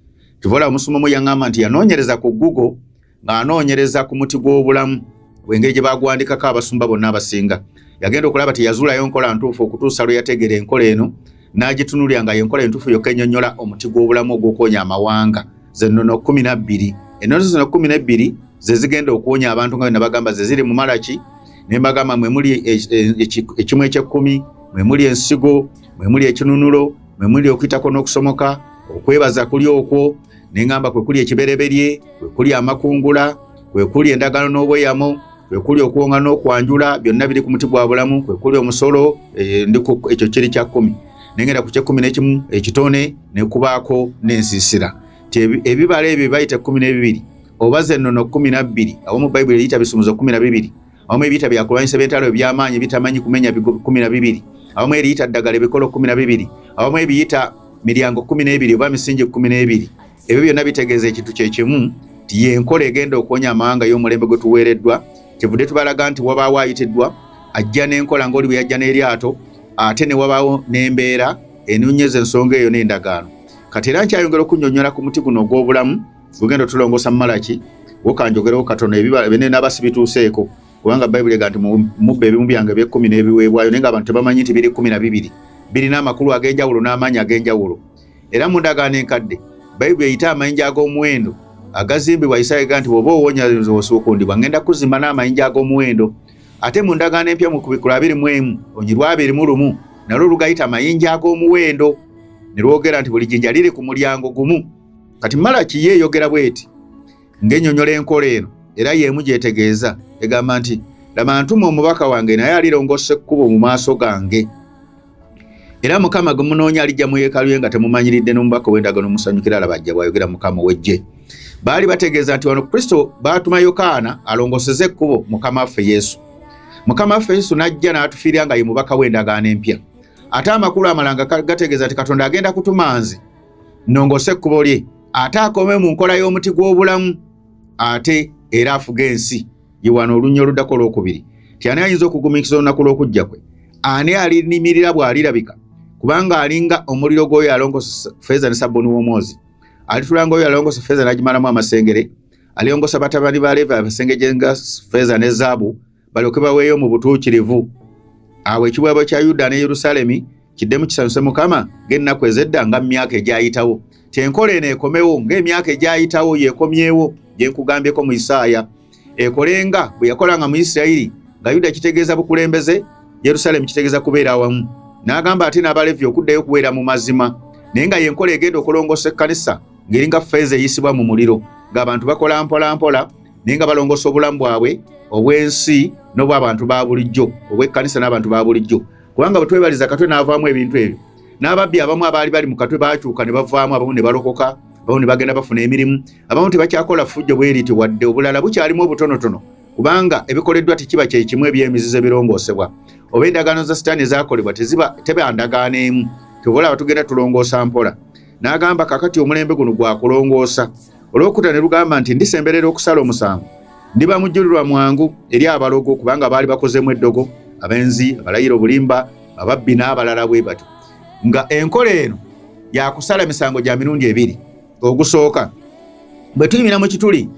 [SPEAKER 1] kivola omusumba omu yaŋŋamba nti yanoonyereza ku google ng'anoonyereza ku muti gw'obulamu wengeri gye bagwandikako abasumba bonna abasinga yagenda okulaba teyazuulayo nkola ntuufu okutuusa lwe yategeera enkola eno n'agitunulira nga yenkola entuufu yokka ennyonnyola omuti gw'obulamu ogw'okuwonya amawanga zennono kumi nabbiri ennono zino kumi nebbiri ze zigenda okuwonya abantu nga byenabagamba ze ziri mu malaki ne mbagamba mwe muli e, e, ekimu ekyekkumi mwe muli ensigo mwe muli ekinunulo mwe muli okuyitako n'okusomoka okwebaza kuli okwo neŋamba kwekuli ekibereberye kwekuli amakungula kwekuli endagano n'obweyamo kwekuli okuwonga n'okwanjula byonna biri ku muti gwa bulamu kwekuli omusolo eh, ndiku ekyo kiri kya kkumi nengenda ku kyekkumi n'ekimu ekitone nekubaako n'ensiisira ti ebibala ebyo bayita ekkumi n'ebibiri oba zennono kkumi na bbiri awo mu bayibuli eyita bisumuzo kkumi na bibiri awamu ebyita byakulwanyisa byentalo ebyamaanyi bitamanyi kumenya bigo kumi na bibiri awamu eriyita ddagala ebikolo kumi na bibiri awamu ebiyita miryango kumi n'ebiri oba misingi kumi n'ebiri ebyo byonna bitegeeza ekintu kyekimu nti yenkola egenda okuwonya amawanga y'omulembe gwe tuweereddwa kivudde tubalaga nti wabaawo ayitiddwa ajja n'enkola ngaoli bwe yajja n'eryato ate ne wabaawo n'embeera enonyeza ensonga eyo n'endagaano kati era nkyayongera okunyonyola ku muti guno ogw'obulamu Tugenda tulongosa Malaki wokanjogerewo katono ebibala bene nabasi bituuseeko kubanga bayibuli ega nti mubba ebimu byange eby'ekkumi n'ebiweebwayo naye nga abantu tebamanyi nti biri kkumi na bibiri birina amakulu ag'enjawulo n'amaanyi ag'enjawulo era mu ndagaano enkadde bayibuli eyita amayinja ag'omuwendo agazimbibwa isaaya ega nti bw'oba owonya osukundibwa ngenda kuzimba n'amayinja ag'omuwendo ate mu ndagaano empya mu kubikula abiri mu emu onyirwa abiri mu lumu nalwo lugayita amayinja ag'omuwendo ne lwogera nti buli jinja liri ku mulyango gumu kati malaki ye eyogera bweti ng'enyonyola enkola eno era yeemu gyetegeeza egamba nti laba ntuma omubaka wange naye alirongosa ekkubo mu maaso gange era mukama gwe munoonya alijja mu yeekalu ye nga temumanyiridde n'omubaka ow'endagano musanyukira alaba ajja bw'ayogera mukama ow'eggye baali bategeeza nti wano kristo baatuma yokaana alongoseze ekkubo mukama waffe yesu mukama waffe yesu n'ajja n'atufiirira nga ye mubaka w'endagaano empya ate amakulu amalanga gategeeza nti katonda agenda kutuma nze nnongoose ekkubo lye ate akome mu nkola y'omuti gw'obulamu ate era afuga ensi ye wano olunya oluddako olwokubiri ti ani ayinza okugumiikiriza olunaku lw'okujja kwe ani alinimirira bw'alirabika kubanga alinga omuliro gw'oyo alongosa feeza ne sabbuni w'omwozi alitulanga oyo alongosa feeza n'agimalamu amasengere alyongosa batabani ba leevi abasengeje nga feeza ne zaabu balyoke baweeyo mu butuukirivu awo ekiweebwa kya yuda ne yerusaalemi kiddemu kisanyuse mukama ng'ennaku ez'edda nga mu myaka egyayitawo kyenkola eno ekomewo ng'emyaka egyayitawo yeekomyewo gye nkugambyeko mu isaaya ekolenga bwe yakolanga mu isirayiri nga yuda kitegeeza bukulembeze yerusaalemi kitegeeza kubeera awamu n'agamba ate n'abalevi okuddayo okuweera mu mazima naye nga yenkola egenda okulongoosa ekkanisa ng'eringa feeza eyisibwa mu muliro ng'abantu bakola mpolampola naye nga balongoosa obulamu bwabwe obw'ensi n'obw'abantu ba bulijjo obw'ekkanisa n'abantu ba bulijjo kubanga bwe twebaliza katwe n'avaamu ebintu ebyo n'ababbi abamu abaali bali mu katwe baakyuka ne bavaamu abamu ne balokoka abamu ne bagenda bafuna emirimu abamu tebakyakola ffujjo bwe riti wadde obulala bukyalimu obutonotono kubanga ebikoleddwa tekiba kye kimu eby'emizizo ebirongoosebwa oba endagaano za sitaani ezaakolebwa teziba teba ndagaano emu tebola abatugenda tulongoosa mpola n'agamba kakati omulembe guno gwa kulongoosa Olwokuna ne lugamba nti ndisemberera okusala omusango, ndiba mujjulirwa mwangu eri abalogo kubanga baali bakozeemu eddogo, abenzi, abalayira obulimba, ababbi n'abalala bwe batyo. Nga enkola eno yakusala emisango gya mirundi ebiri. Ogusooka, bwe tuyimira mu kituli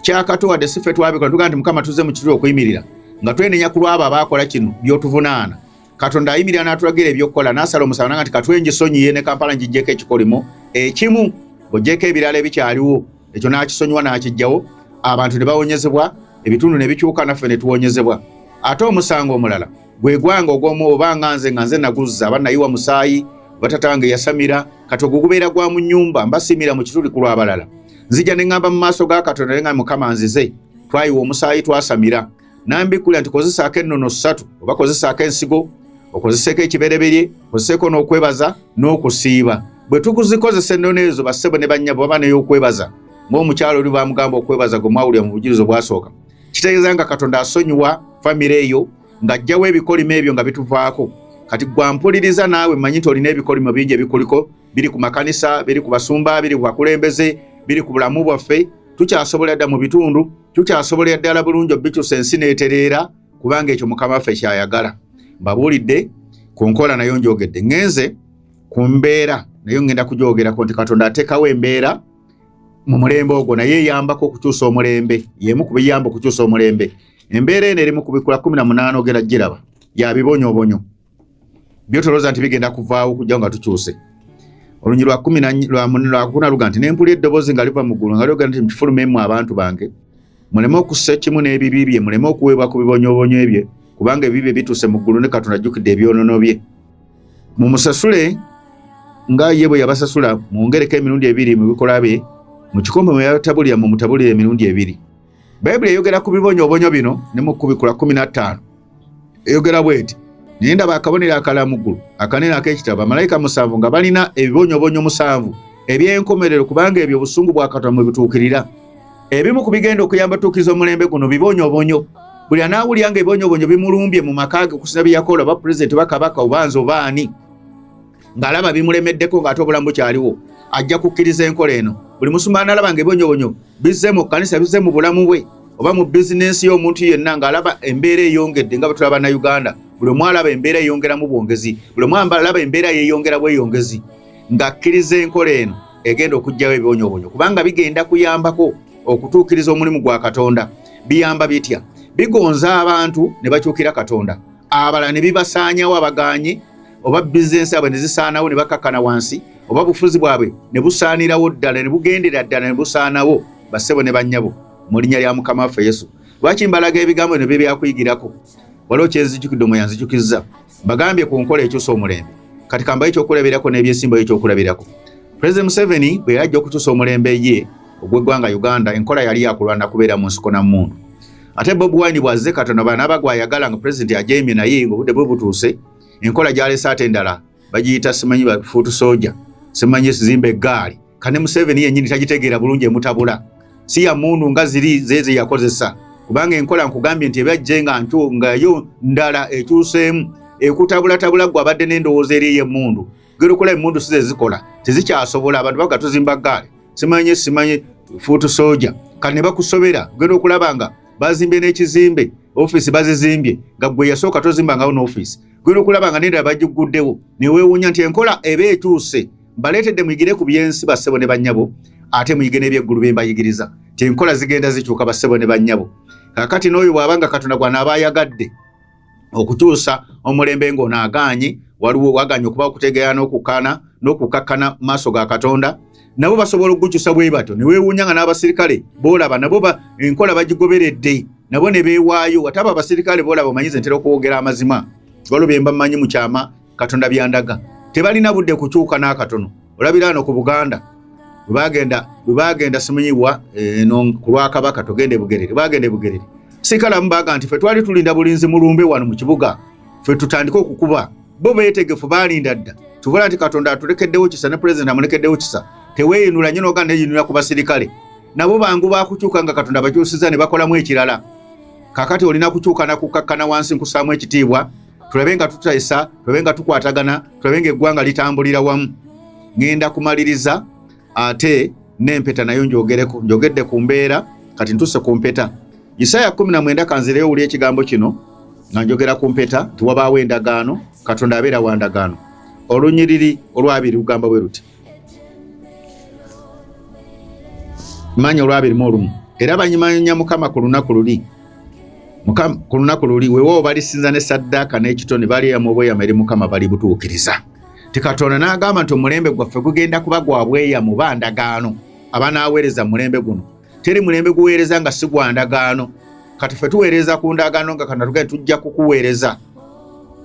[SPEAKER 1] kyakato wadde si ffe twabikola tugaa nti mukama tuzze mu kituli okuyimirira nga twenenya ku lwabo abaakola kino by'otuvunaana. katonda ayimirira n'atulagira ebyokukola n'asala omusala nanga nti katwe ngisonyiye ne kampala ngijjeko ekikolimo ekimu ng'ogyeko ebirala ebikyaliwo ekyo n'akisonyiwa n'akijjawo abantu ne bawonyezebwa ebitundu ne bikyuka naffe ne tuwonyezebwa ate omusango omulala gwe gwanga ogw'omu oba nga nze nga nze naguzza aba nayiwa musaayi batata wange yasamira kati ogwo gubeera gwa mu nnyumba mbasiimira mu kituli ku lw'abalala nzija ne ŋŋamba mu maaso ga katonda ne nga mukama nzize twayiwa omusaayi twasamira nambikkulira nti kozesaako ennono ssatu oba kozesaako ensigo okozeseeko ekibereberye okozeseeko n'okwebaza n'okusiiba bwe tukuzikozesa ennono ezo bassebo ne bannyabo baba ney'okwebaza ng'omukyalo oli bamugamba okwebaza gwe mwawulira mu bujirizi obwasooka kitegeeza nga katonda asonyiwa famire eyo ng'ajjawo ebikolimo ebyo nga bituvaako kati gwampuliriza naawe manyi nti olina ebikolimo bingi ebikuliko biri ku makanisa biri ku basumba biri ku bakulembeze biri ku bulamu bwaffe tukyasobola dda mu bitundu tukyasobolera ddala bulungi obikyusa ensi neetereera kubanga ekyo mukama waffe kyayagala mbabuulidde ku nkola nayo njogedde ŋenze ku mbeera naye ŋŋenda kugyogerako nti katonda ateekawo embeera mu mulembe ogwo naye eyambako okukyusa omulembe yemu ku biyamba okukyusa omulembe embeera eno eri mu kubikula kumi na munaana ogera giraba ya bibonyobonyo byotoloza nti bigenda kuvaawo kujja nga tukyuse olunyi lwa kumi lwakuna luga nti nempuli eddoboozi nga liva mu ggulu nga lyogera nti mukifulumemu abantu bange muleme okussa ekimu n'ebibi bye muleme okuweebwa ku bibonyoobonyo ebye kubanga ebibi bye bituuse mu ggulu ne katonda ajjukidde ebyonono bye mumusasule nga ye bwe yabasasula mwongereko emirundi ebiri mu bikolwa bye mu kikombe mwe yatabulira mu mutabulira emirundi ebiri bayibuli eyogera ku bibonyoobonyo bino ne mu kubikula kumi na ttaano eyogera bweti naye ndaba akabonero akala mu ggulu akanene ak'ekitabo bamalayika musanvu nga balina ebibonyoobonyo musanvu eby'enkomerero kubanga ebyo obusungu bwa katonda mwe bituukirira ebimu ku bigenda okuyamba tuukiriza omulembe guno bibonyoobonyo buli anaawulira nga ebibonyoobonyo bimulumbye mu maka ge okusinza bye yakola oba pulezidenti oba kabaka oba nze oba ani ng'alaba bimulemeddeko ng'ate obulamu bukyaliwo ajja kukkiriza enkola eno buli musumba analaba nga ebonyobonyo bizze mu kkanisa bizze mu bulamu bwe oba mu bizinensi y'omuntu yenna ng'alaba embeera eyongedde nga bwe tulaba na uganda buli omu alaba embeera eyongeramu bwongezi buli omu alaba embeera yeyongera bweyongezi ng'akkiriza enkola eno egenda okugyawo ebibonyobonyo kubanga bigenda kuyambako okutuukiriza omulimu gwa katonda biyamba bitya bigonza abantu ne bakyukira katonda abalala ne bibasaanyawo abaganye oba bizinensi abwe ne zisaanawo ne bakakkana wansi oba bufuzi bwabwe ne busaanirawo ddala ne bugendera ddala ne busaanawo bassebo ne bannyabo mu linnya lya mukama waffe yesu lwaki mbalaga ebigambo bino bye byakuyigirako waliwo kyenzijukidde omwe yanzijukizza bagambye ku nkola ekyusa omulembe kati kambayo ekyokulabirako n'ebyesimbayo ekyokulabirako pulezidenti museveni bwe yajja okukyusa omulembe ye ogw'eggwanga uganda enkola yali yakulwana kubeera mu nsiko na mundu ate bob wine bwazze katonda banaaba gwayagala nga pulezidenti ajemye naye ngaobudde bwe butuuse enkola gyalese ate endala bagiyita simanyi foot soldier simanyi esizimba eggaali kane museveni yennyini tagitegeera bulungi emutabula si ya mundu nga ziri zeeze yakozesa kubanga enkola nkugambye nti ebyajje nga ntu ngayo ndala ekyuseemu ekutabulatagula gwe abadde n'endowooza eri ey'emmundu gerukola emundu size zikola tezikyasobola abantu baga tuzimba gaali simanye simanye fuutu soja kati ne bakusobera ogenda okulaba nga bazimbye n'ekizimbe ofiisi bazizimbye nga gwe yasooka tozimba ngawo n'ofiisi ogenda okulaba nga nendala bagiguddewo neweewuunya nti enkola eba etuuse mbaleetedde muyigire ku byensi bassebo ne bannyabo ate muyige n'ebyeggulu bye mbayigiriza ti enkola zigenda zikyuka bassebo ne bannyabo kakati n'oyo bw'abanga katonda gwanaabayagadde okutuusa omulembe ng'onaagaanyi waliwo waganye okuba okutegeera n'okukana n'okukakkana maaso ga katonda nabo basobola okugukyusa bwe batyo ne weewuunya nga n'abasirikale boolaba nabo enkola bagigoberedde nabo ne beewaayo wataba abasirikale boolaba omanyize ntera okwogera amazima waliwo bye mba mmanyi mu kyama katonda byandaga tebalina budde kukyuka n'akatono olabira ano ku buganda webagenda webagenda simunyibwa eh, eno ku lwakabaka togenda ebugerere bagenda ebugerere sikalamu baga nti fe twali tulinda bulinzi mulumbe wano mu kibuga fe tutandike okukuba bo beetegefu balinda dda tubula nti katonda atulekeddewo kisa ne pulezidenti amulekeddewo kisa teweeyinula nyo noga neyinula ku basirikale nabo bangu bakukyuka nga katonda bakyusiza ne bakolamu ekirala kakati olina kukyuka nakukkakkana wansi nkusaamu ekitiibwa tulabe nga tutesa tulabe nga tukwatagana tulabe nga eggwanga litambulira wamu ŋenda kumaliriza ate n'empeta nayo njogereko njogedde ku mbeera kati ntuse ku mpeta isaaya 19 kanzireyo wuli ekigambo kino nga njogera ku mpeta nti wabaawo endagaano katonda abeera wa ndagaano olunyiriri olwabiri lugamba bwe luti manya olwabirimu olumu era banyimanya mukama ku lunaku luli ku lunaku luli wewo balisinza ne saddaaka n'ekitone baliyamu obweyama eri mukama bali butuukiriza ti katonda n'agamba nti omulembe gwaffe gugenda kuba gwa bweyamu ba ndagaano abanaaweereza mulembe guno teri mulembe guweereza nga si gwa ndagaano kati fe tuweereza ku ndagaano nga kanatugae tujja kukuweereza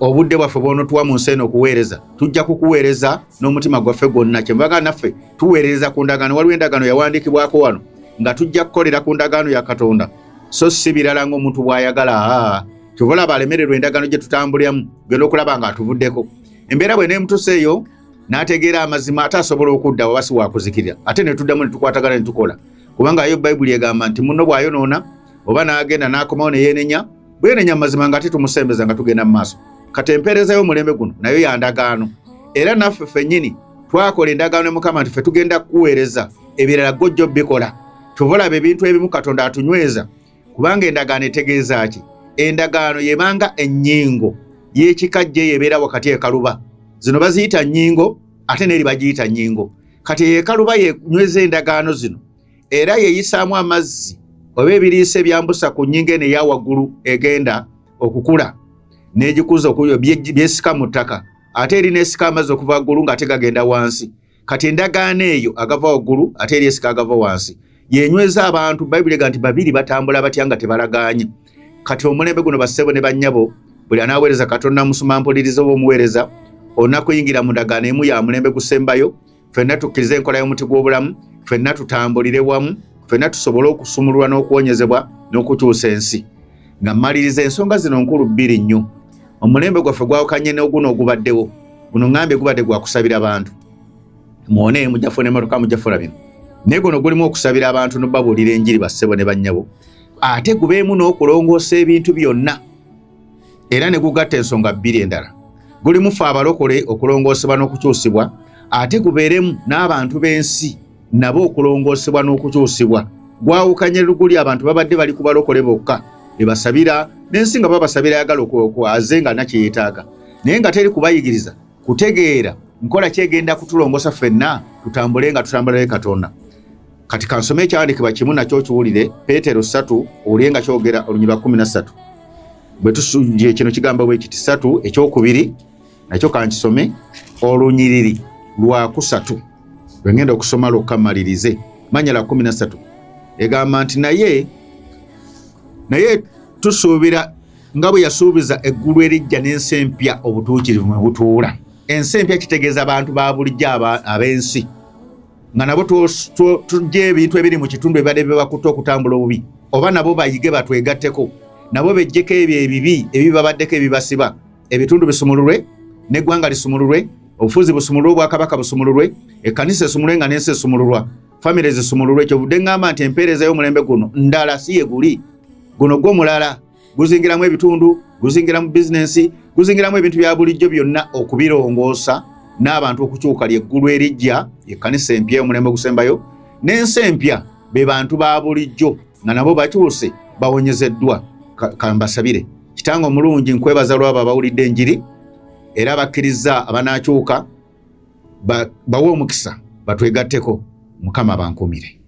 [SPEAKER 1] obudde bwaffe bwonotuwa mu nsi eno okuweereza tujja kukuweereza n'omutima gwaffe gwonna kyemubaga naffe tuweerereza ku ndagaano waliwo endagaano yawandiikibwako wano nga tujja kukolera ku ndagaano ya katonda so si birala ngaomuntu bw'ayagala kyova olaba alemererwa endagaano gye tutambuliramu genda okulaba nga atuvuddeko embeera bwe neemutusa eyo n'ategeera amazima ate asobola okudda waba si wakuzikirira ate ne tuddamu ne tukwatagana ne tukola kubanga yo bayibuli egamba nti munno bw'ayonoona oba n'agenda n'akomawo ne yeenenya bwe yeenenya mu mazima ng'ate tumusembeza nga tugenda mu maaso kati empeereza y'omulembe guno nayo ya ndagaano era naffe fennyini twakola endagaano ne mukama nti ffe tugenda kukuweereza ebirala gojja obikola tuvolaba ebintu ebimu katonda atunyweza kubanga endagaano etegeeza ki endagaano yebanga ennyingo y'ekikajja eyo ebeera wakati ekaluba zino baziyita nnyingo ate neeri bagiyita nnyingo kati eyo ekaluba yenyweza endagaano zino era yeyisaamu amazzi oba ebiriisa ebyambusa ku nnyingo eno eya waggulu egenda okukula n'egikuza byesika mu ttaka ate eri n'esika amazzi okuva waggulu ng'ate gagenda wansi kati endagaano eyo agava waggulu ate eri esika agava wansi yenyweza abantu bayibuli ega nti babiri batambula batya nga tebalaganye kati omulembe guno bassebo ne bannyabo buli anaaweereza katonda musuma mpuliriza oba omuweereza onakuyingira mu ndagaano emu ya mulembe gusembayo fenna tukkirize enkola y'omuti gw'obulamu fenna tutambulire wamu fenna tusobole okusumululwa n'okuwonyezebwa n'okukyusa ensi Nga mmaliriza ensonga zino nkulu bbiri nnyo. Omulembe gwaffe gwawukanye n'oguno ogubaddewo. Guno ngambye gubadde gwa kusabira bantu. Mwone mujja funa emmotoka mujja funa bino. Naye guno gulimu okusabira abantu n'obabuulira enjiri bassebo ne bannyabo. Ate gubeemu n'okulongoosa ebintu byonna. Era ne gugatta ensonga bbiri endala. Gulimu ffe abalokole okulongoosebwa n'okukyusibwa ate gubeeremu n'abantu b'ensi. nabo okulongoosebwa n'okukyusibwa gwawukanye luguli abantu babadde bali kubalokole bokka ebasabira n'ensi nga babasabira ayagala okwaze nga nakyeyetaaga naye nga teri kubayigiriza kutegeera nkola kyegenda kutulongosa ffenna tutambule nga tutambula ne katonda kati kansome ekyawandikibwa kimu nakyo kiwulire peetero satu owulire nga kyogera olunyirwa kumi na satu bwe tusuye kino kigambo bwe kiti satu ekyokubiri nakyo kankisome olunyiriri lwakusatu lwengenda okusoma lwokka malirize manya la kumi nasatu egamba nti naye naye tusuubira nga bwe yasuubiza eggulu erijja n'ensi empya obutuukirivu mwe butuula ensi empya kitegeeza abantu ba bulijjo ab'ensi nga nabo tujja ebintu ebiri mu kitundu ebibadde bibakutte okutambula obubi oba nabo bayige batwegatteko nabo bejjeko ebyo ebibi ebibabaddeko ebibasiba ebitundu bisumululwe n'eggwanga lisumululwe obufuzi busumululwe obwakabaka busumululwe ekkanisa esumulwe nga n'ensi esumululwa famire zisumululwe kyovudde ŋŋamba nti empeereza y'omulembe guno ndala si ye guli guno gwo mulala guzingiramu ebitundu guzingiramu bizinensi guzingiramu ebintu bya bulijjo byonna okubirongoosa n'abantu okukyuka lyeggulu erijja ekkanisa empya omulembe ogusembayo n'ensi empya be bantu ba bulijjo nga nabo bakyuse bawonyezeddwa kambasabire Kitange omulungi nkwebaza lwabo abawulidde enjiri era bakkirizza abanaakyuka bawe omukisa batwegatteko mukama bankumire.